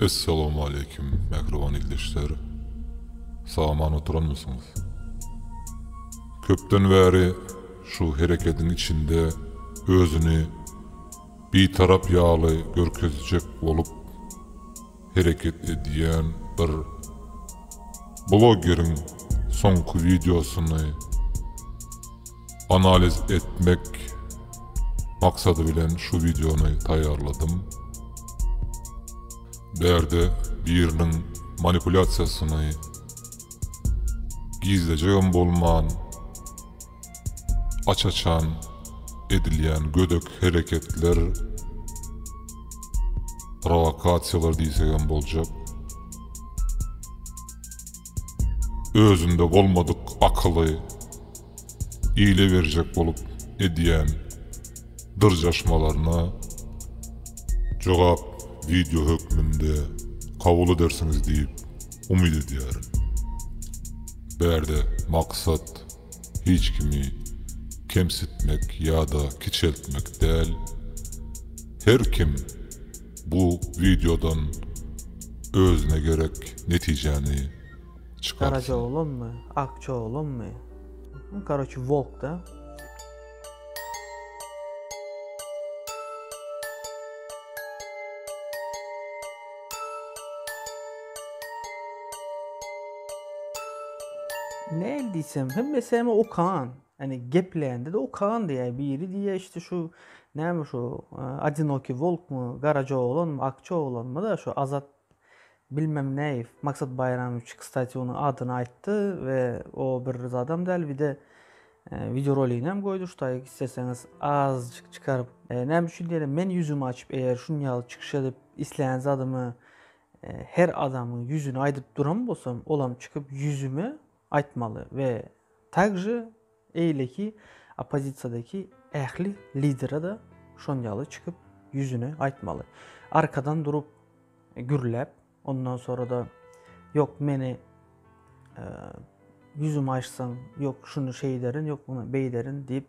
Essalamualeýkum mähriban ildeşler! Sag-aman oturanmysyňyz? Köpden bäri şu herekediň içinde özüni Bitarap ýaly görkezjek bolup, hereket edýän bir blogeriň soňky wideosyny analiz etmek maksady bilen şu wideony taýýarladym. Bärde biriniň manipulýasiýasyny gizlejegem bolman, Aç-açan edilýän gödek hereketler, prowokasiýalar diýsegem boljak, özünde bolmadyk akyly ile berjek bolup edýän dyrjaşmalaryna jogap wideo hökmünde kabul edersiňiz diýip umyt edýärin. Bärde maksat. hiç kimi kemsitmek ýa-da kiçeltmek däl. Her kim bu wideodan özüne gerek netijäni çykarsyn. Garaja oglanmy, akja oglanmy? Karoçi wolk da. Näl diýsem, hemmesem okan. Hani geplende de okan diýä. Biri diýä işte şu näme şu Adinoki Volk mu, Garaja oglan mu, Akça oglan mu da şu Azat Bilmem näe Maksat Baýramowiç kstati onuň adyny aýtdy we o bir zadam däl bir de wideo roliginem goýdy şutaýyk isleseňiz azajyk çykaryp näme üçin diýelim men ýüzümi açyp eger şun ýaly çykyş edip islän zadymy her adamyň ýüzüni aýdyp duran bolsam olam çykyp ýüzüme aýtmaly we takže eýleki oppozisiýadaki ähli lidere-de şon ýaly çykyp ýüzüne aýtmaly. Arkadan durup gürläp, ondan sonra-da ýok meni ýüzüme açsaň, ýok şuny şeýderin, ýok muny beýderin diýip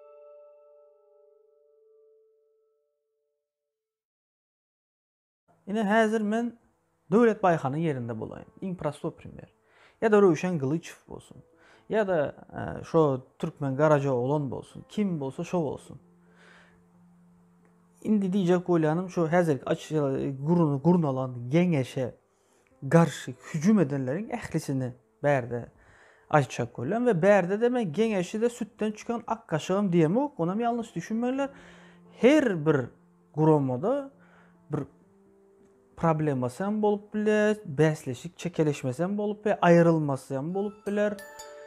Ine häzir men Döwlet Baýhanyň ýerinde bolaýyn, iň prostoý primer. Ýa-da Röwşen Gylyçow bolsun. Ýa-da e, şo türkmen Garajaoglan bolsun. Kim bolsa şo bolsun. Indi diýjek bolýanym şo häzirki aç e, gurnalan geňeşe garşy hüjüm edenleriň ählisini bärde aýtjak bolýan we bärdede men geňeşide sütden çykan ak gaşygam diýemok, onam ýalňyş düşünmeýinler. Her bir guramada bir problemasy hem bolup biler, bäsleşik çekeleşmesi hem bolup biler, aýrylmasy hem bolup biler.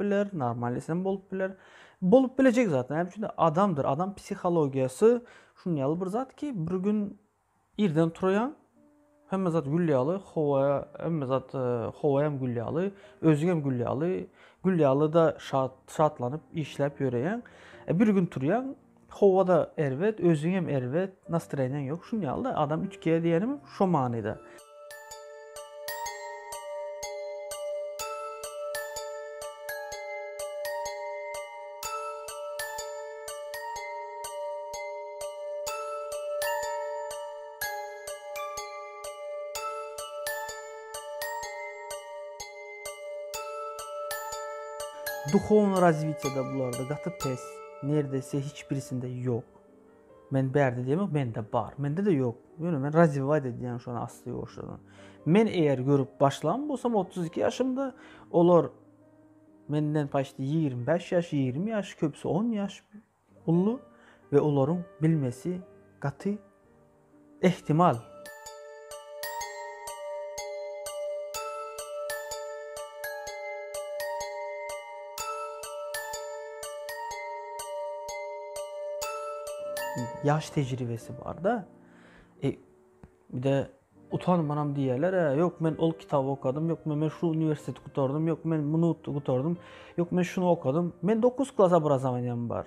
biler, normal isem bolup biler. Bolup bilejek zat. Näme üçin? Adamdyr. Adam psihologiýasy şun ýaly bir zat ki, bir gün irden turýan, hemme zat gül ýaly, howa, hemme zat e, howa hem gül ýaly, özüň hem gül ýaly, gül ýaly da şat, şatlanyp işläp ýöreýän. E, bir gün turýan, Howada erbet, özüňem erbet, nastroýeniň ýok, şun ýaly-da, adam üýtgeýär diýenim şo manyda. Duhownyý razwitiýe-de bularda gaty pes. Nerdese hiç birisinde ýok. Men bärde diýemok, mende bar. Mende-de ýok. Ýöne men razwiwat edýän şony asly ýoşuny. Men eger görüp başlan bolsam 32 ýaşymda, olar menden paçti 25 ýaş, 20 ýaş, köpüsi 10 ýaş uly we olaryň bilmesi gaty Ähtimal. Ýaş tejribesi bar-da. E, bir-de utanmanam diýerler, e, ýok men ol kitaby okadym, ýok men şu uniwersiteti gutardym, ýok men muny gutardym, ýok men şuny okadym. Men 9 klas obrazowaniýam bar.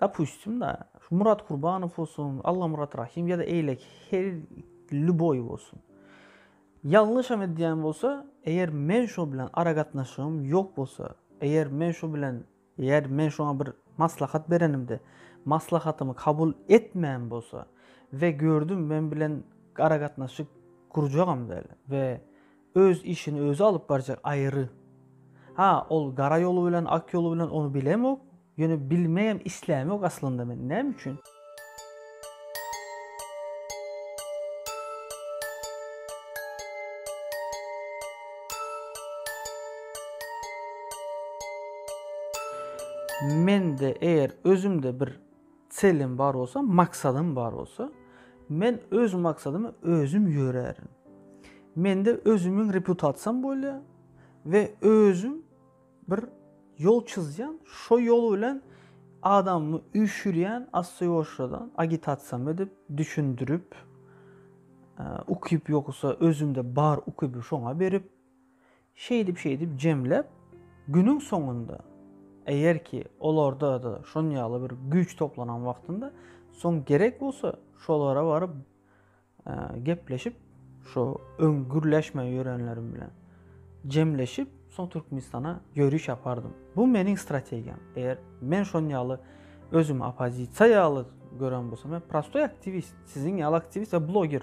Dopustim da, şu Murat Kurbanow bolsun, Allamyrat Rahim ýa-da eýleki her lýuboý bolsun. Ýalňyşam edýän bolsa, eger men şo bilen aragatnaşygym ýok bolsa, eger men şo bilen, eger men şoňa bir maslahat berenimde, maslahatymy kabul etmän bolsa we gördüm men bilen aragatnaşyk gurjagam däl we Öz işini özi alyp barjak aýry. Ha ol gara ýoly bilen ak ýoly bilen ony bilemok, ýöne bilmegem islämok aslynda men näme üçin. Mende eger özümde bir Çelem bar bolsa, maksadym bar bolsa, men öz maksadyma özüm ýörärin. Mende özümiň reputasiýam bolýar we özüm bir ýol çyzýan, şo ýol bilen adamymy üýşürýän, assoýoşradan, agitasiýam edip, düşündirip, ukyp ýogsa özümde bar ukyby şoňa berip, Şeýdip-şeýdip jemläp, günüň soňunda, eger ki, olarda-da şon ýaly bir güýç toplanan wagtynda, soň gerek bolsa, şolara baryp gepleşip, şo öň gürleşmän ýörenlerim bilen jemleşip, soň Türkmenistana ýöriş ýapardym. Bu meniň strategiýam. Eger men şon ýaly özümi oppozisiýa ýaly gören bolsam, men prostoý aktiwist, siziň ýaly aktiwist we bloger.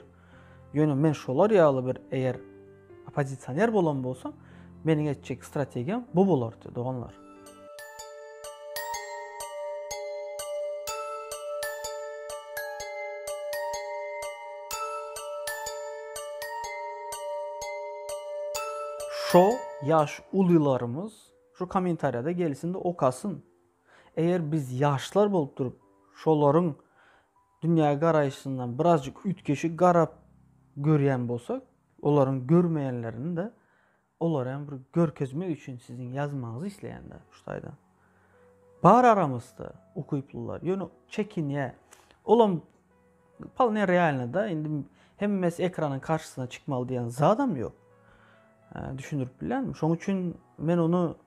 Ýöne men şolar ýaly bir eger oppozisioner bolan bolsam, meniň etjek strategiýam bu bolardy, doganlar. Şo ýaş ulylarymyz şu kommentariýada gelsin-de okasyn. Eger biz ýaşlar bolup durup, şolaryň dünýägaraýşyndan birazjyk üýtgeşik garap görýän bolsak, olaryň görmeýänlerini-de olara hem bir görkezmek üçin siziň ýazmagyňyzy isleýän-de şu taýdan. Bar aramyzda ukyplylar, ýöne çekinýä. Olam palne realny-da, indi hemmesi ekranyň karşysyna çykmaly diýen zadam ýok. Düşündirip bilýänmi? Şoň üçin men ony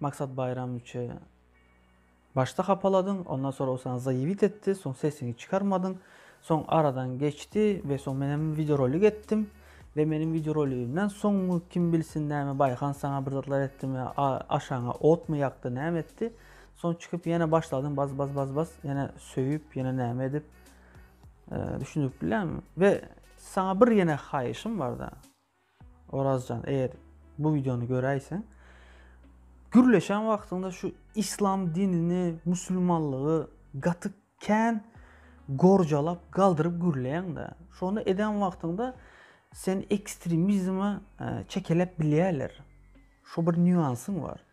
Maksat Baýramowiçe başda hapaladyň, ondan soň ol saňa zaýewit etdi, soň sesiňi çykarmadyň, soň aradan geçdi we soň men hem wideorolik etdim we meniň wideoroligimden soň kim bilsin näme Baýhan saňa bir zatlar etdimi, aşagyňa otmy ýakdy, näme etdi, soň çykyp ýene başladyň baz baz baz baz ýene söýüp ýene näme edip düşündirip bilýärmi we saňa bir ýene haýyşym barda. Orazjan eger bu videony göräýseň gürleşen wagtyňda şu islam dinini musulmanlygy gaty kän gorjalap galdyryp gürleýäňdä şony eden wagtyňda seni ekstremizme e, çekeläp bilýärler şu bir nýuansyň bar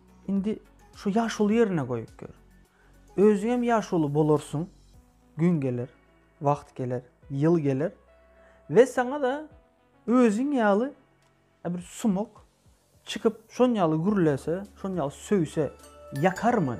Indi şu ýaşuly ýerine goýup gör. Özüňem ýaşuly bolarsyň, gün geler, wagt geler, ýyl geler we saňa-da özüň ýaly bir sumak çykyp, şon ýaly gürlese, şon ýaly söýse, ýakarmy?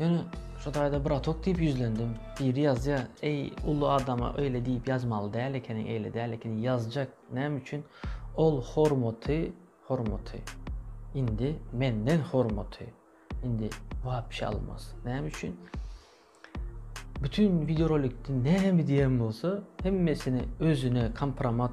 Ýöne şu taýda bratok diýip ýüzlendim. Biri ýazýar, eý, uly adama öýle diýip ýazmaly däl ekeniň, eýle däl ekeniň, ýazjak, näme üçin? Ol hormaty, hormaty, indi menden hormaty, indi wapşe almaz. Näme üçin? Bütün wideorolikde näme diýen bolsa, hemmesini özüne kompromat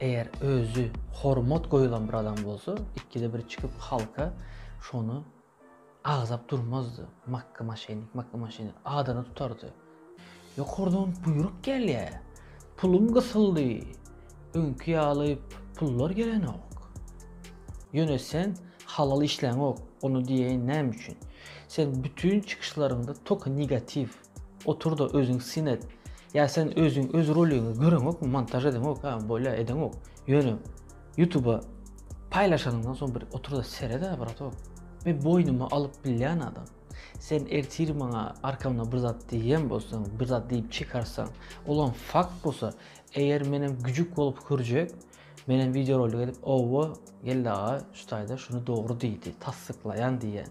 Eger özü hormat goýulan bir adam bolsa ikide bir çykyp halka şony agzap durmazdy. Makka maşenik, makka maşenik adyny tutardy. Ýokardan buýruk gelýär. Pulum gysyldy. Öňki ýaly pullar gelenok. Ýöne sen halal işläňok. Ony diýeýin näme üçin? Sen bütin çykyşlaryňda toky negatiw. Oturda özüň syn et. Ýa sen özüň öz roligiňi göreňokmy, montaž edeňok, ha bolýa edeňok. Ýöne ýutuba paýlaşanyňdan soň bir oturda seret-ä bratok. Men boýnuma alyp bilýän adam. Sen ertir maňa arkamda bir zat diýýän bolsaň, bir zat diýip çykarsaň, olam fakt bolsa, eger menem güjük bolup hürjek, menem wideorolik edip, owo, Geldi aga şu taýda şuny dogry diýdi, tassyklaýan diýýän.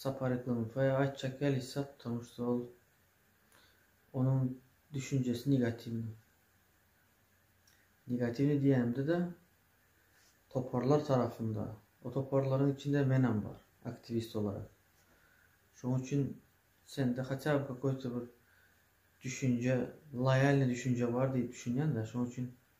Sapar Ikonowaýa aýtjak gelişse, ptomu şto ol onuň düşünjesi negatiwnyý. Negatiwnyý diýenimde-de, toparlar tarapynda, o toparlaryň içinde menem bar, aktiwist bolaryn. Şonuň üçin sende hatýa bir kakaýta bir düşünje, loýalnyý düşünje bar diýip düşünýän-de, şonuň üçin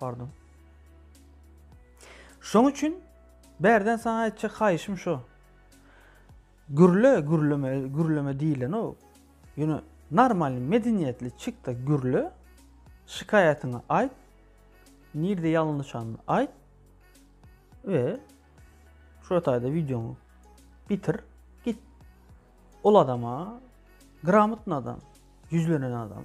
Pardon. Şoň üçin bärden saňa aýtjak haýyşym şu. Gürle, gürleme, gürleme diýilen o. Ýöne normalny, medeniýetli çykda gürle, şikaýatyňy aýt, nirde ýalňyşanyny aýt we şu ýataýda wideoňy bitir, git. Ol adama, gramotny adam, ýüzlenen adam.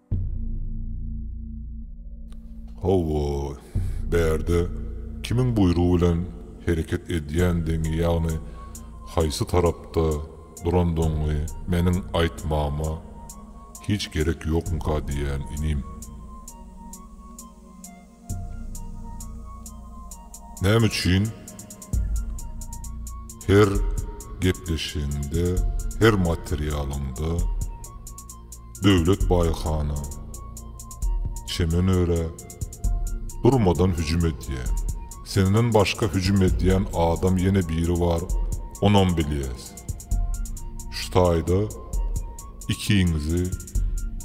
Hawa, bärde kimiň buýrugy bilen hereket edýändigiňi, ýagny haýsy tarapda durandygyňy meniň aýtmama hiç gerek ýokmyka diýýän inim. Näme üçin her gepleşigiňde, her materialyňda Döwlet Baýhana, Çemen örä durmadan hüjüm edýäň? Senden başga hüjüm edýän adam ýene biri bar, onam bilýäs. Şu taýda ikiňizi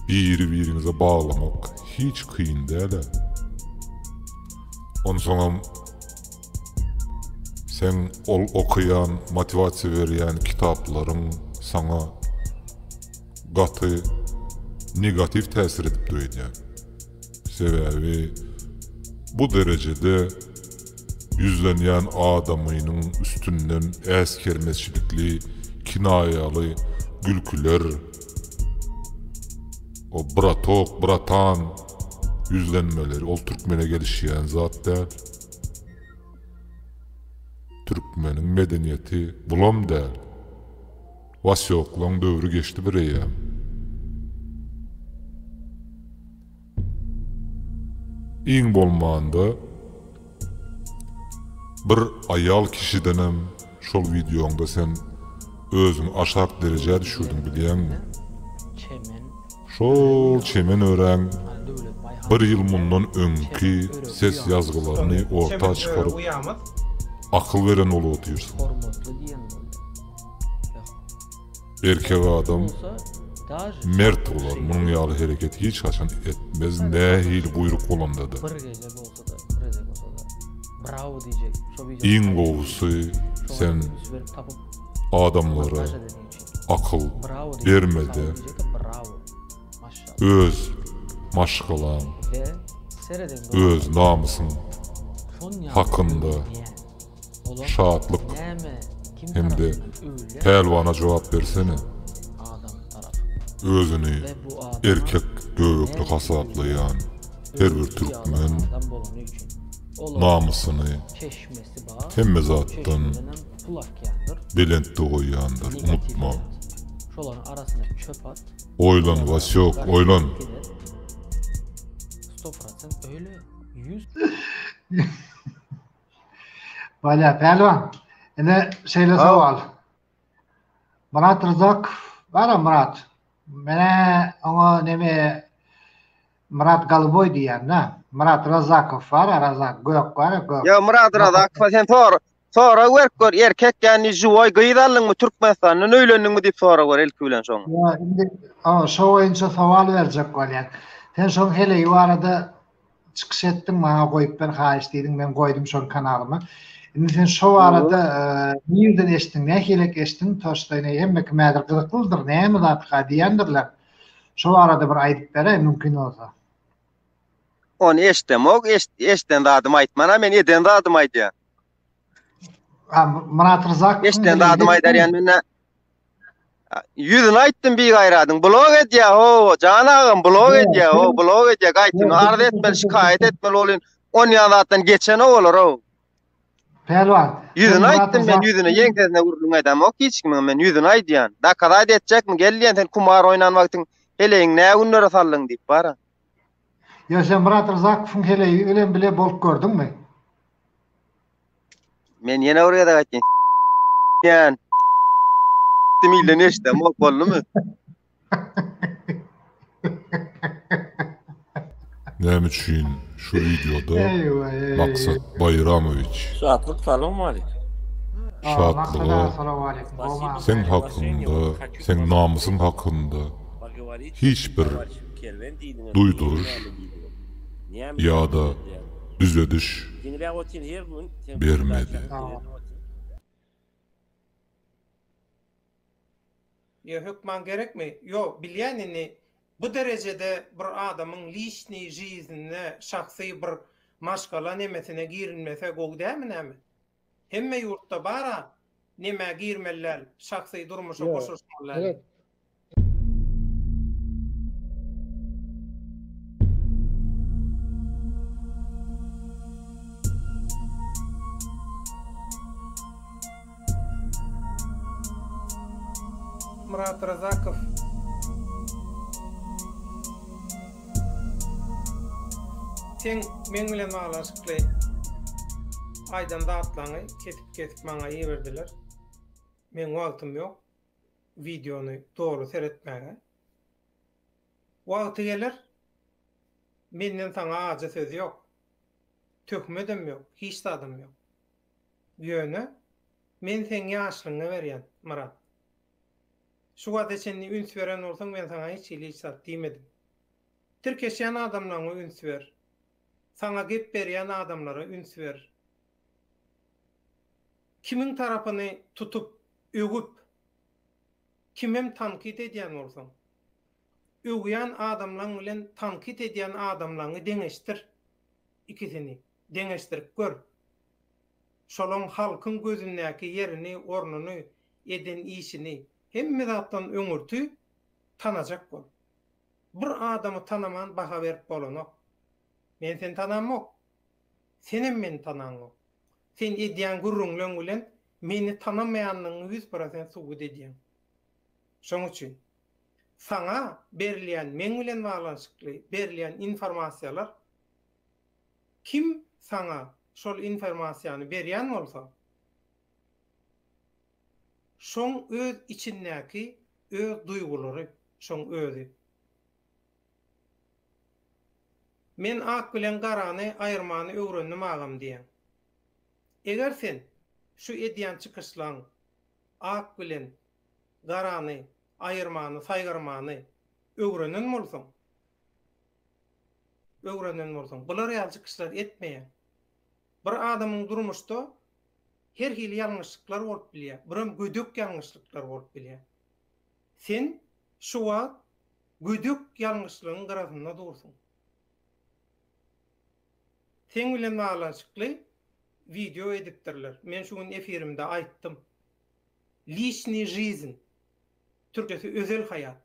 biri-biriňize baglamak hiç kyn däl-ä. Onsoňam seň ol okaýan, motiwasiýa berýän kitaplaryň saňa gaty negatiw täsir edipdir öýdýän. Sebäbi bu derejede ýüzlenýän adamynyň üstünden äsgermeçilikli, kinaýaly gülküler, o bratok, bratan ýüzlenmeleri ol türkmene gelişýän zat däl. Türkmeniň medeniýeti bulam däl. Was ýoklaň döwri geçdi bir eýýäm. Iň bolmanda bir aýal kişidenem şol wideoňda sen özüňi aşak derejä düşürdiň bilýäňmi? Şol çemen örän bir ýyl mundan öňki ses ýazgylaryny orta çykaryp akyl beren bolup otyrsyň. Erkek adam mert bolar munuň ýaly hereket hiç haçan etmez nähili buýruk bolandada. Iň gowusy sen adamlara akyl bermede öz maşgalaň öz namysyň hakynda Şatlyk hem-de Pälwana jogap bersene. Özüni erkek göbekli hasaplaýan her bir türkmen namysyny hemme zatdan belentde goýýandyr, unutma. Oýlan Wasyok, oýlan! Bala Pälwan, ine şeýle sowal. Murat Rızak, bara Murat. Menä oňa neme Murat Galyboý diýýän-dä. Murat Razakow bar, Razak gök bar, gök. Ýa Murat Razakow sen sor. Sora berk gör, erkek ýany juwaý gyz aldyňmy Türkmenistandan öýlendiňmi diýip sora gör ilki bilen şoňa. Ýa indi şo boýunça sowal berjek bolýan. Sen şoň heleýi barada çykyş etdiň maňa goýup ber haýyş diýdiň men goýdum şony kanalyma indi sen şo barada nirden eşitdiň nähilek eşitdiň toşdaýna hemme kim häzir gyzyklydyr näme zatga diýendirler şo barada bir aýdyp beräý mümkin bolsa ony eşdemok eşden zadymy aýtmana men eden zadymy aýdýan Myrat Ryzak eşden zadymy aýdarýan men Ýüzüni aýtdym bir gaýradyň. Blog edýä ho, jan agam, blog edýä ho, blog edýä. Gaýtyn arz etmeli, şikaýat etmeli bolýan. On ýan zatdan geçen o olar o. Pälwan. Ýüzüni aýtdym men, ýüzüne ýeň sesine gürrüň aýdam ok hiç kimiň men ýüzüni aýdýan. Dakazaýt etjekmi? Gel diýen sen kumar oýnan wagtyň heleýiň nä günlere saldyň diýip bara. Ýa sen Myrat Ryzakowyň heleýi bilen bile bolup gördüňmi? Men ýene bir gezek aýtýan. Ýan. Dimille neşdem bok boldumy? Näme üçin şu wideoda Maksat Baýramowiç? Şatlyk salam aleýk. Şatlyga seň hakynda, seň namysyň hakynda hiç bir duýduryş. ýa-da düzediş bermedi. Ýa hökman gerekmi? Ýok, bilýän indi bu derejede bir adamyň liçniý žiznine, şahsy bir maşgala nemesine girilmese gowy dälmi näme? Hemme ýurtda bar-a, nemä girmeli däl, şahsy durmuşa goşulyşmaly däl. Myrat Razakow Seň meň bilen baglanyşykly aýdan zatlaňy kesip-kesip maňa iberdiler. Meň wagtym ýok. wideony doly seretmäge. Wagty geler, menden saňa ajy söz ýok. Töhmedem ýok, hiç zadam ýok. Ýöne, men seň ýaşlygyňa berýän, Myrat. Şu wagta çenli üns beren bolsaň, men saňa hiç hili hiç zat diýmedim. Tirkeşýän adamlaryňa üns ber. Saňa gep berýän adamlara üns ber. Kimiň tarapyny tutup, öwüp, kimem tankyt edýän bolsaň, öwýän adamlaň bilen tankyt edýän adamlaňy deňeşdir. Ikisini deňeşdirip gör. Şolaň halkyň gözündäki ýerini, ornuny, eden işini, hemme zatdan öňürti tanajak bol. Bir adamy tanaman baha berip bolanok. Men seni tanamok. Senem meni tanaňok. Sen edýän gürrüňleň bilen meni tanamaýandygyňy ýüz prosent subut edýäň. Şoň üçin, saňa berilýän, meň bilen baglanyşykly berilýän informasiýalar, kim saňa şol informasiýany berýän bolsa, şoň öz içindäki öz duýgulary, şoň özi. Men ak bilen garany aýyrmany öwrendim agam diýen. Eger sen şu edýän çykyşlaň ak bilen garany aýyrmany saýgarmany öwrenen bolsaň öwrenen bolsaň bular ýaly çykyşlar etmeýäň. Bir adamyň durmuşda her hili ýalňyşlyklar bolup bilýär, birem gödek ýalňyşlyklar bolup bilýär. Sen şu wagt Gödek ýalňyşlygyň gyrasynda dursuň. Seň bilen baglanyşykly wideo edipdirler. Men şu gün efirimde aýtdym. Lişniý žizn, türkçesi özel haýat.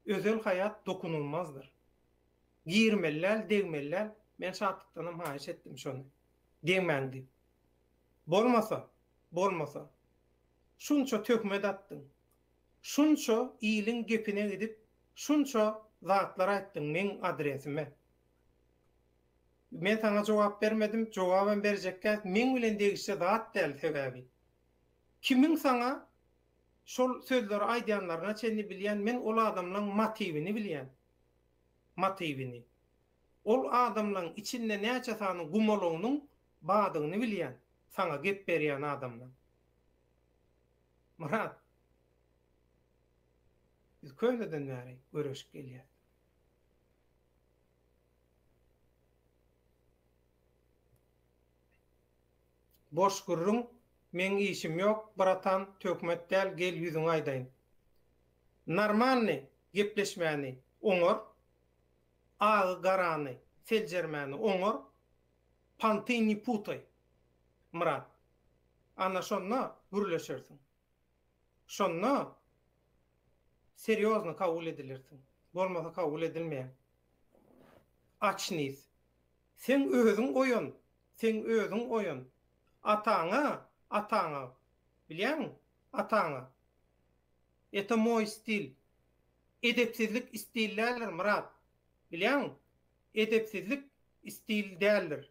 Özel haýat dokunulmazdyr. Girmeli däl, degmeli däl. Men şatlykdanam haýyş etdim şony. Degmäň diýip. Bolmasa, bolmasa. Şunça töhmet atdyň. Şunça iliň gepine gidip şunça zatlar aýtdyň meň adresime. Men saňa jogap bermedim, jogabam berjekkäs meň bilen degişli zat däl sebäbi. Kimiň saňa şol sözleri aýdýanlaryna çenli bilýän men ol adamlaň matiwini bilýän. Matiwini. Ol adamlaň içinde näçe sany gumalagynyň badygyny bilýän saňa gep berýän adamlaň. Myrat, biz köneden bäri göreşip gelýäs. Boş gürrüň, meň işim ýok, bratan, töhmet däl, gel ýüzüňi aýdaýyn. Normalny gepleşmäni oňar, agy-garany, seljermäni oňar, Panty ne putaj, Myrat. Ana şonda gürleşersiň. Şonda serýozny kabul edilersiň. Bolmasa kabul edilmeýäň. Açnis. Seň özüň oýan, seň özüň oýan. Ataňa, ataňa. Bilýäňmi? Ataňa. Eto moý stil. Edepsizlik stil däldir, Myrat. Bilýäňmi, edepsizlik stil däldir.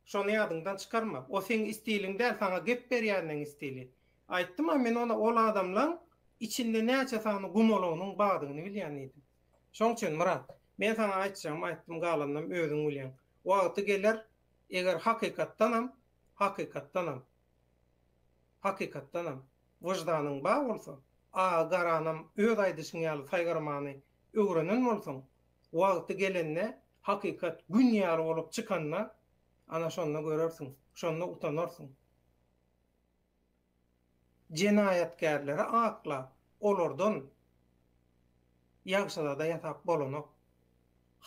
Şony ýadyňdan çykarma. O seň stiliň däl, saňa gep berýänleň stili. Aýtdym-a men ona ol adamlaň içinde näçe sany gumalagynyň badygyny bilýän diýdim. Şoň üçin, Myrat, men saňa aýtjagymy aýtdym, galanynam özüň bilýäň. Wagty geler, eger hakykatdanam, hakykatdanam, Hakykatdanam, wyždanyň bar bolsa, Aga Garanam öz aýdyşyň ýaly saýgarmany öwrenen bolsaň, wagty gelende, hakykat Gün ýaly bolup çykanda, ana şonda görersiň, şonda utanarsyň. Jenaýatkärleri aklap, olardan ýagşyzada ýasap bolanok.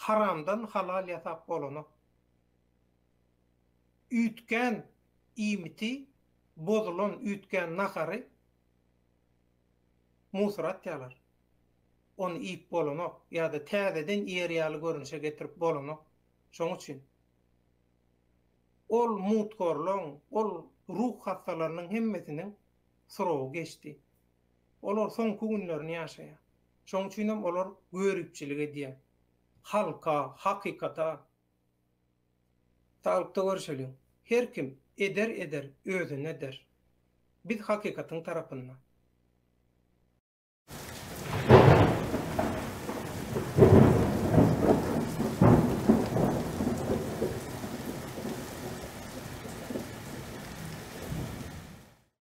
Haramdan halal ýasap bolanok. Üýtgän iýmiti, bozulan, üýtgän nahary musora atýarlar. Ony iýip bolanok ýa-da täzeden iýer ýaly görnüşe getirip bolanok. Şoň üçin ol muthorlaryň, ol ruh hassalarynyň hemmesiniň syrogy geçdi. Olar soňky günlerini ýaşaýar. Şoň üçin hem olar göripçilik edýär. Halka, hakykata. Saglykda görüşeliň. Her kim eder eder özüne der. Biz hakykatyň tarapynda.